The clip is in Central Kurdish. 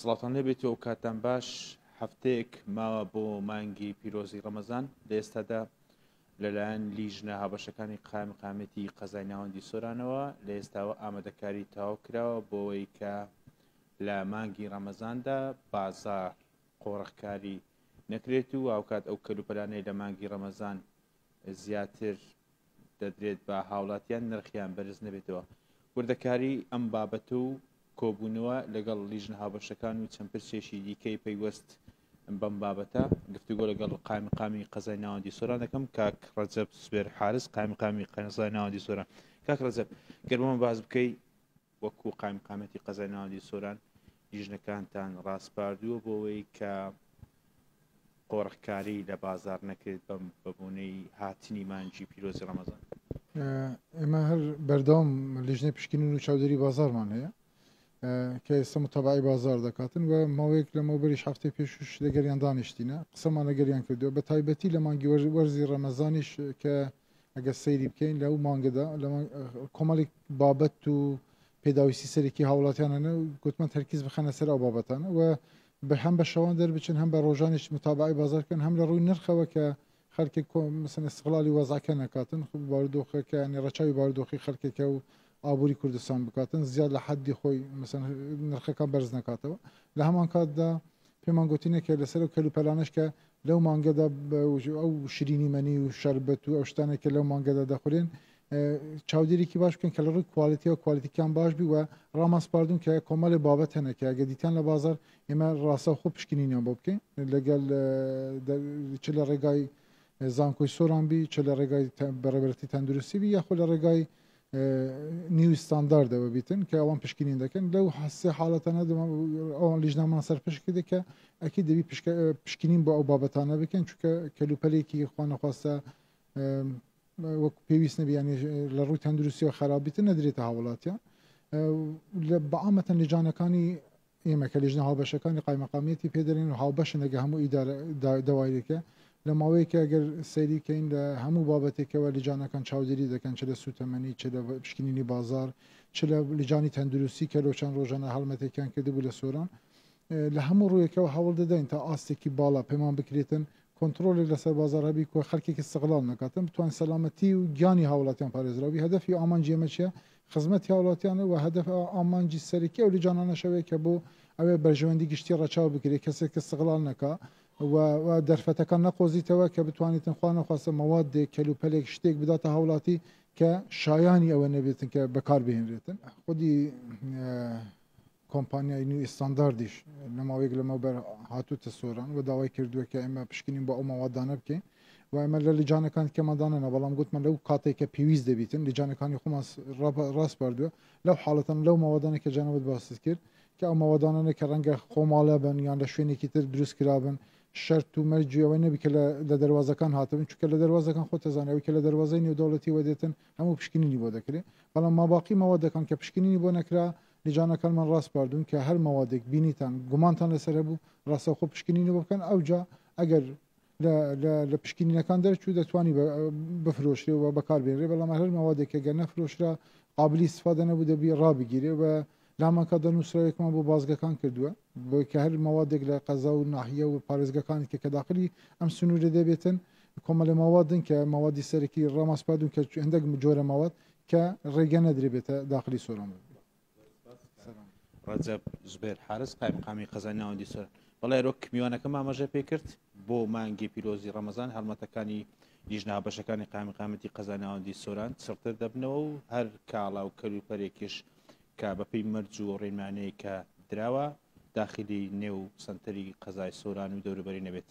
سڵاوتان لێبێت و ئەوکاتان باش هەفتەیەک ماوە بۆ مانگی پیرۆزی ڕەمەزان لە ئێستادا لەلایەن لیژنە هابەشەکانی قایم قامەتی قەزای ناوەندی سۆرانەوە لە ئێستاوە ئامادەکاری تاو کراوە بۆەوەی کە لە مانگی ڕەمەزاندا بازار قۆڕخکاری نەکرێت و هاوکات ئەو کەلوپەلانەی لە مانگی ڕەمەزان زیاتر دەدرێت بە هاوڵاتیان نرخیان بەرز نەبێتەوە وردەکاری ئەم بابەت و کۆبوونەوە لەگەڵ لیژنە هاوبەشەکان و چەند پرسێکی دیکەی پەیوەست بەم بابەتە گفتوگۆ لەگەڵ قایمقامی قەزای ناوەندی سۆران دەکەم کاک ڕەجەب سوێر حارس قایمقامی قەزای ناوەندی سۆران کاک ڕەجەب گەرمەوە باز بکەی وەکو قایمقامیەتی قەزای ناوەندی سۆران لیژنەکانتان ڕاسپاردووە بۆوەی کە قۆرغکاری لە بازار نەکرێت بەم بەبونەی هاتنی مانگی پیرۆزی ڕەمەزان؟ ئێمە هەر بەردەوام لیژنەی پشکنین و چاودێری بازارمان هەیە کە ئێستا متەبعی بازار دەکاتن و ماوەیەک لەمەوبەریش هەفتەی پێشوش لەگەریان دانیشتینە قسەمان لەگەریان کردووە بە تایبەتی لە مانگی وەرزی ڕەمەزانیش کە ئەگەر سەیری بکەین لەو مانگەدا لە کۆمەڵێک بابەت و پێداویستی سەرەکی هاوڵاتیانانە گوتمان تەرکیز بخەنە سەر ئەو بابەتانە و بە هەم بە شەوان دەربچن هەم بە ڕۆژانیش متابعی بازارکەن هەم لە ڕووی نرخەوە کە خەرکی کۆمسن استقلالی وەزعکە نکاتن خب باردۆخەکە ینی ڕەچوی باردۆخی خەرکەکە و ئابووری کوردستان بکاتن زیاد لە حەدی خۆی نرخەکان بەرز نکاتەوە لە هەمان کاتدا پێمان گۆتینە کە لەسەر ئەو کەل و پەلانەش کە لەو مانگەدا ئەو شرینی مەنی و شەربەت و ئەو شتانە کە لەو مانگەدا دەخورێن چاودێرێکی باش بکەن کە لە ڕووی کوالێتی و کوالێتیکان باش بی وە ڕامان سپاردون کە کۆمەڵێ بابەت هەنە کە ئەگە دیتان لە بازار ئێمە ڕاستە خۆ پشکنینیان بۆ بکەین لەگەل چ لە ڕێگای زانکۆی سۆران بی چ لە ڕێگای بەڕێبەرتی تەندروستی بی یاخۆ لە ڕێگای نیو ستانداردەوە بیتن کە ئەوان پشکنین دەکەن لەو سێ حاڵەتانە ئەوان لیژنامان سەرپشکی دەکە ئەکی دەبی پشکنین بۆ ئەو بابەتانە بکەن چونکە کەلوپەلێکی خوانەخواستە وەک پێویست نەبیانی لە ڕووی تەندروستی و خراپبیتن نەدرێتە هاوڵاتیان بەعامەتەن لەجانەکانی ئێمە کە لیژنە هاوبەشەکانی قایمەقامیەتی پێدەێن و هاوبەشە لەگە هەموو داوایەکە لە ماوەیەکە گەر سەیریکەین لە هەموو بابەتێکەوە لجانەکان چاودێری دەکەن چ لە سوتەمەنی چ لە پشکنینی بازار چ لە لجانی تەندروستی کە لۆ چەند ڕۆژانە هەڵمەتێکیان کردبوو لە سۆران لە هەموو ڕوویەکەوە هەوڵ دەدەین تا ئاستێکی باڵا پەیمان بکرێتن کۆنتڕۆڵێک لەسەر بازاڕ هەبی کۆ خەلکێکی سغڵاڵ نەکاتن بتوان سەلامەتی و گیانی هاوڵاتیان پارێزراوبی هەدەفی و ئامانجی ئێمە چیە خزمەتی هاوڵاتیانە و هەدەف ئامانجی سەرەکی ئەو لجانانەشەوەیە کە بۆ ئەوێ بەرژەوەندی گشتی ڕەچاو بکرێت کەسێک کە سغڵاڵ نەکا و دەرفەتەکان نەقۆزیتەوە کە بتوانیتن خوا نەخواستە مەوادێک کەلوپەلێک شتێک بداتە هاوڵاتی کە شایانی ئەوە نەبێتن کە بەکاربهێنرێتن خودی کۆمپانیای نیو ستانداردیش لە ماوەیەک لەمەوبەر هاتووتە سۆران و داوای کردووە کە ئێمە پشکنین بۆ ئەو مەوادانە بکەین و ئێمە لە لجانەکان کەمەدانەنا بەڵام گوتمان لەو کاتێک کە پێویست دەبیتن لجانەکانی خۆمان ڕاستپاردووە لەو حاڵەتەن لەو مەوادانە کە جانەوەت باست کرد کە ئەو مەوادانەنە کە ڕەنگە خۆماڵە بن یان لە شوێنێکی تر دروست کرابن شەرت و مەرجیەوە نەبی کە لە دەواازەکان هاتبن چکە لە دەواازەکان خۆ تەزانەوەی کە لە دەواازەی نێودەوڵەتی وەدێتن هەموو پشکنینی بۆ دەکرێت بەڵام ماباقی مەوە دەکەن کە پشکنینی بۆ نەکرا لجانەکانمان ڕاسپاردوون کە هەر مەوادێک بینیتان گومانتان لەسەر هەبوو ڕاستەوخۆ پشکنینی بۆ بکەن ئەوجا ئەگەر لە پشکینینەکان دەرچوو دەتوانی بفرۆشرێ و بەکاربێنرێ بەڵام هەر مەوادێک کە گەر نەفرۆشرا قابلی سفادە نەبوو دەبی ڕابگیرێ و لامانکە دەنووسراوێکمان بۆ بازگەکان کردووە بۆیە کە هەر مەوادێک لە قەزا و ناحیە و پارێزگاکانی کە کە داخلی ئەم سنوورە دەبێتن کۆمەلە مەوادن کە مەوادی سەرەکی ڕاما سپا دون کە هەندێک جۆرە مەواد کە ڕێگە نەدرێبێتە داخلی سۆران بن. ڕەجەب زبێر حارس قایمقامی قەزای ناوەندی سۆران بەڵێ رۆک میوانەکە مامەژە پێکرد بۆ مانگی پیرۆزی ڕەمەزان هەڵمەتەکانی لیژنا بەشەکانی قایمقامەتی قەزای ناوەندی سۆران چڕتر دەبنەوە و هەر کاڵا و کەلوپەرێکیش کە بەپێی مەرج و ڕێنمانەیەک کە دراوە داخلی نێو سەنتەری قەزای سۆران و دەوروبەری نەبێت.